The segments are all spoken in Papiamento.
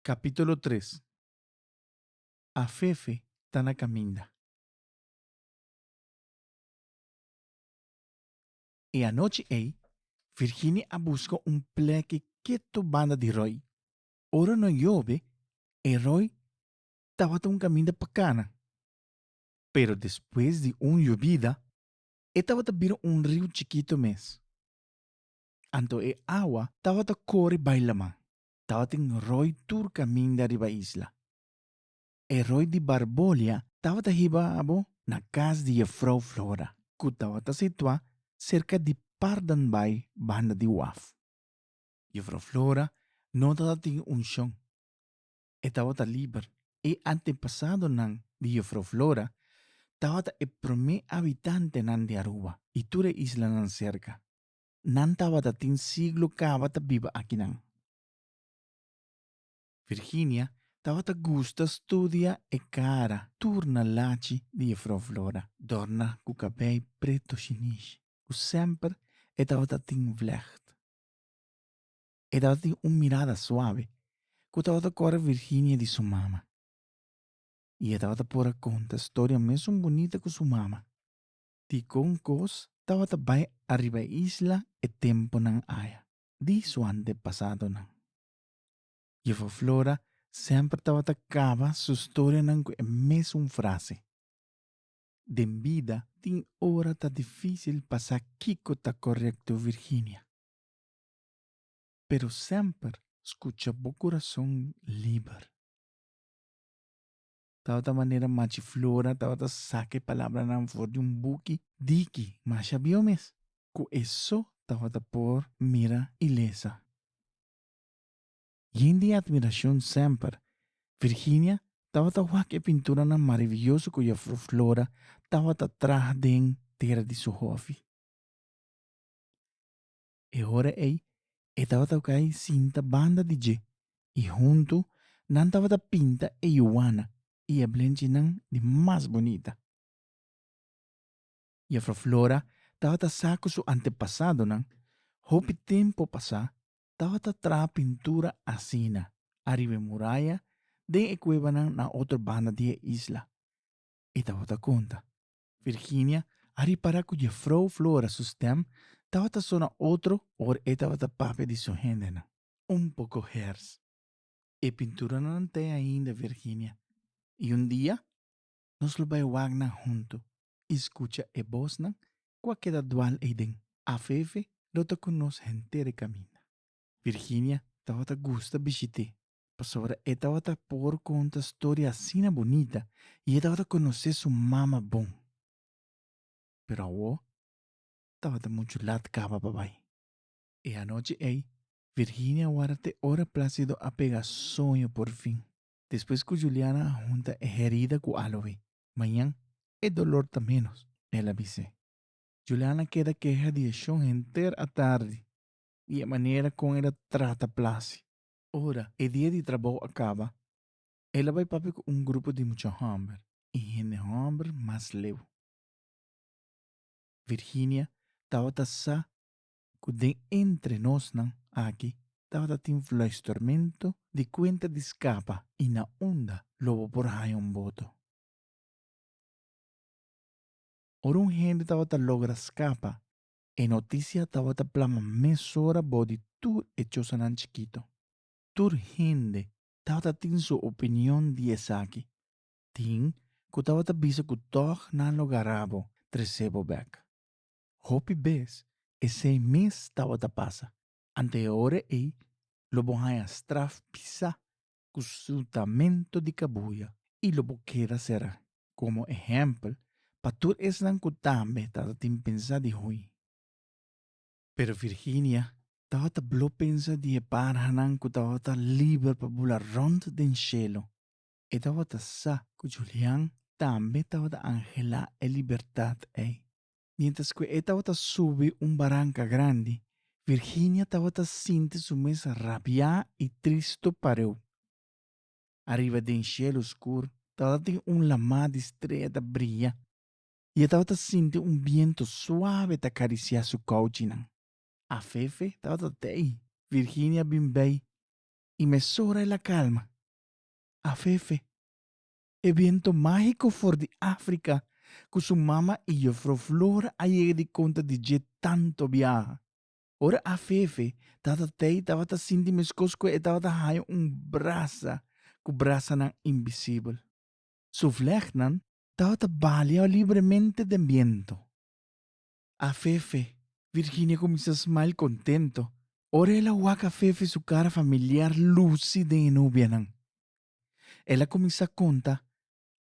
Capítulo tres Afefe ta na caminda. E anochi ei, Virginia a busca un pleke ketu banda di roi. Ora no yobe, e roi tabata un caminda pa cana. Pero despues di un yobida, e tabata bira un riu chikito mes. Anto e awa tabata kore bai laman. Tabatin roi tur kaminda riba isla. E roi di Barbolia tabata hiba abo na kas di Jefrouw Flora, ku tabata situá serka di Pardonbaai banda di waf. Jefrouw Flora no tabata tin unshon. E tabata liber. E antepasadonan di Jefrouw Flora tabata e promé abitantenan di Aruba i tur e islanan serka. nan tabata tin siglo caba ta biba akinan. Virginia tabata gusta studia e cara tur na lachi di Jefrouw Flora, dorna cu cabei preto shinish, cu semper e tabata tin vlecht. E tabata tin un mirada suave cu tabata core Virginia di su mama, y e tabata por a conta storia mesun bunita cu su mama. Dikon kos tabata bai ariba e isla e tempunan aya di su antepasadonan? Jefo Flora semper tabata kaba su storianan ku e mesun frase, Den bida tin ora ta difísil pa sa kiko ta korekto Virginia. Pero semper skucha bo kurason liber. tabata manera Machi Flora tabata saka e palabranan for di un buki diki masha bieu mes, ku e so tabata por mira ilesa. Yen di atmirashon semper, Virginia tabata wak e pinturanan maraviyoso ku Jafrou Flora tabata traha den tera di su hofi. E hora ei e tabata ku ai sinta banda di dje i huntu nan tabata pinta e yuana i e blenchinan di mas bunita. Jefro Flora tabata sa ku su antepasadonan hopi tempu pasá tabata traha pintura asina ariba e muraya den e kuebanan na otro banda di e isla. E tabata konta, Virginia a ripará ku Jefrou Flora su stèm tabata sona otro ora e tabata papia di su hendenan. Un poko hers. E pinturanan nan ta ainda, Virginia, i un dia nos lo bai wak nan huntu i skucha e bosnan ku a keda dual eiden. Afefe lo ta ku nos henter e kaminda. Virginia tabata gusta bishit'é pasobra e tabata por conta storia asina bunita y e tabata conoce su mama bon. Pero awo tabata mucho lat caba pa bay. E anochi ey, Virginia wara te ora Placido a pega sueño por fin. Despues cu Juliana a hunta e herida cu a loe, mañan e dolor ta menos, el a bis'e. Juliana keda keha di e shon henter a tardi di e manera con el a trata Placi. Ora e dia di trabou a kaba, el a bai papia ku un grupo di mucha hòmber i hende hòmber mas leu. Virginia tabata sa ku den entre nosnan aki tabata tin fluistermentu di kuenta di skapa i na unda lo bo por haña un boto. Ora un hende tabata logra skapa E noticia tawata plama mesora bo di tur e chosanan chikito. Tur hende tawata tin su opinion di esaki. Tin ku tawata bisa ku tòg nan lo gará bo tres'é bo bèk. Hopi bes esei mes tawata pasa, ante e ora ei lo bo haña straf pisá ku slutamentu di kabuya i lo bo keda será. Komo ehèmpel, pa tur esnan ku tambe tabata tin pensa di hui. Pero Virginia tabata blo pensa di e parhanan ku tabata liber pa bula rònt den shelu. E tabata sa ku Julian tambe tabata anhelá e libertat ei. Miéntras ku e tabata subi un baranka grandi, Virginia tabata sinti su mes rabiá i tristu pareu. Ariba den shelu skur tabata tin un lamá di strea ta bria i e tabata sinti un bientu suave ta karisiá su kouchinan. Afefe tabata tei. Virginia bin bai i mesora el a kalma. Afefe, E biento mágiko for di Áfrika ku su mama i Jufrou Flora a yega di konta di dje tanto biaha. Ora Afefe, Tata Tei, tabata sinti meskos ku e tabata haña un brasa ku brasanan invisibel. Su vlègnan tabata baleá libremente den biento. Afefe, Virginia kuminsá smile kontento ora el a wak Afefe su kara familiar lusi den e nobianan. El a kuminsá konta,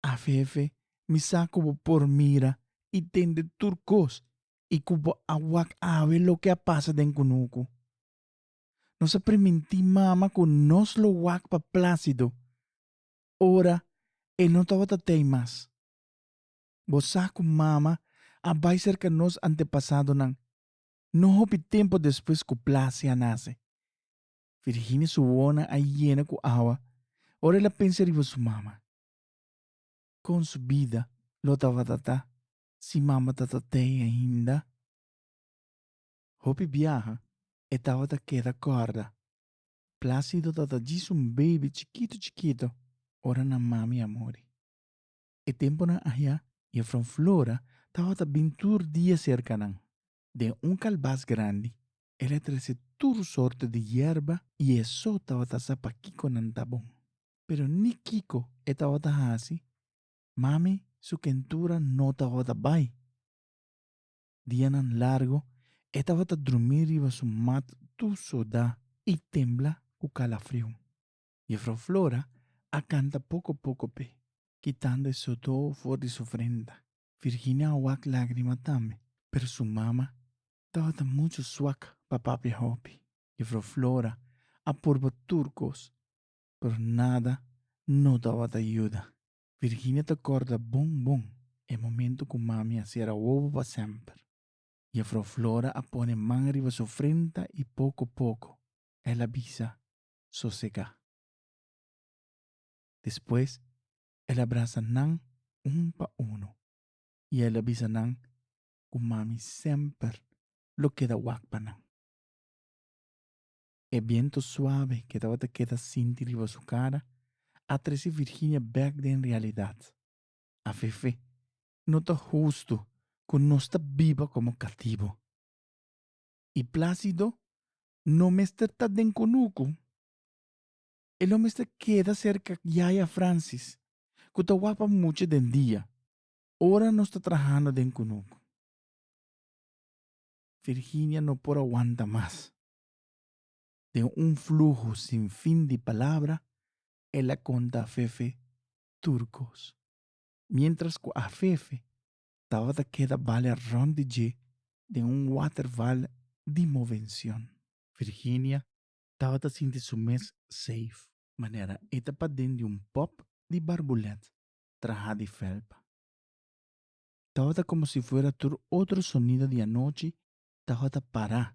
Afefe mi sa ku bo por mira i tende tur kos i ku bo a wak awe loke a pasa den kunuku. Nos a primintí mama ku nos lo wak pa Plásido ora e no tabata tei mas. Bo sa ku mama a bai serka nos antepasadonan no hopi tempu despues ku Plasia nase. Virginia su wonan a yena ku awa ora el a pensa riba su mama. Kon su bida lo tabata ta si mama tabata ei ainda? Hopi biaha e tabata keda kòrda. Plácido tabata djis un beibi chikitu chikitu ora nan mami a muri. E tempunan ahiá Jèfrou Flora tabata bin tur dia serka nan. Den un kalbas grandi, el a trese tur sorte di yerba i e so tabata sa pa kiko nan ta bon. Pero ni kiko e tabata hasi, Mami su kentura no tabata bai. Dianan largu e tabata drumí riba su mat tur sudá i tembla ku kalafriu. Jefrou Flora a kanta poko poko p'e, kitando e sudó for di su frenta. Virginia a wak lágrima tambe, pero su mama tabata muchu swak pa papia hopi. Jufrouw Flora a purba tur kos, pero nada no tabata yuda. Virginia ta kòrda bon bon e momento ku Mami a sera wowo pa semper. Jufrouw Flora a pone man riba su frenta i poko poko el a bisa, Sosegá. Despues El a brasa nan un pa unu i el a bisa nan ku Mami semper lo keda wak pa nan. E bientu suabe ke tabata keda sinti riba su kara a trese Virginia bek den realidat. Afefe, no ta hustu ku nos ta biba komo katibu. I Plácido no mester ta den kunuku. E lo mester keda serka yaya Francis, ku ta wapa mucha den dia, ora nos ta trahando den kunuku. Virginia no por a wanta mas. Den un fluho sin fin di palabra, el a konta a Fefe tur kos. Mientras ku a Fefe tabata keda balia rònt di dje den un waterval di movencion. Virginia tabata sinti su mes safe. Manera e ta paden di un pop di barbulet trahá di felpa. Tabata komo si fuera tur otro sonido di anochi tabata pará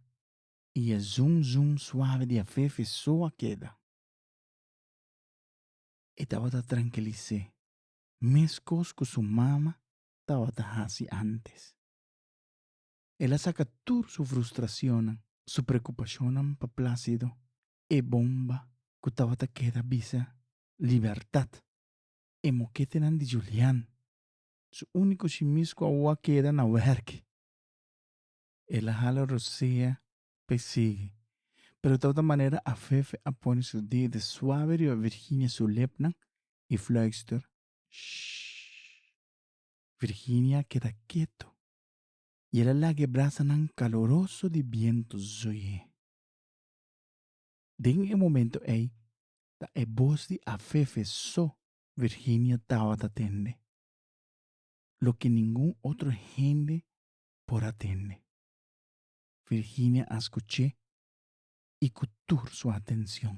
i e zoom zoom suave di afefe so a keda. E tabata trankilis'é, meskos ku su mama tabata hasi antes. El a saca tur su frustracionnan, su preocupacionnan pa Plácido, e bomba cu tabata keda bisa Libertad, e moketenan di Julián, su unico shimis cu awo a keda na werki. El a hala rosea pa e sigui, pero tabata manera Afefe a pone su dede suave riba Virginia su lepnan y fluister, Shh. Virginia a keda keto i el a laga e brasanan kaloroso di bientu zui'é. Den e momentu ei ta e bos di Afefe so Virginia tabata tende, loke ningun otro hende por a tende. Virginia a skuch'é i ku tur su atenshon.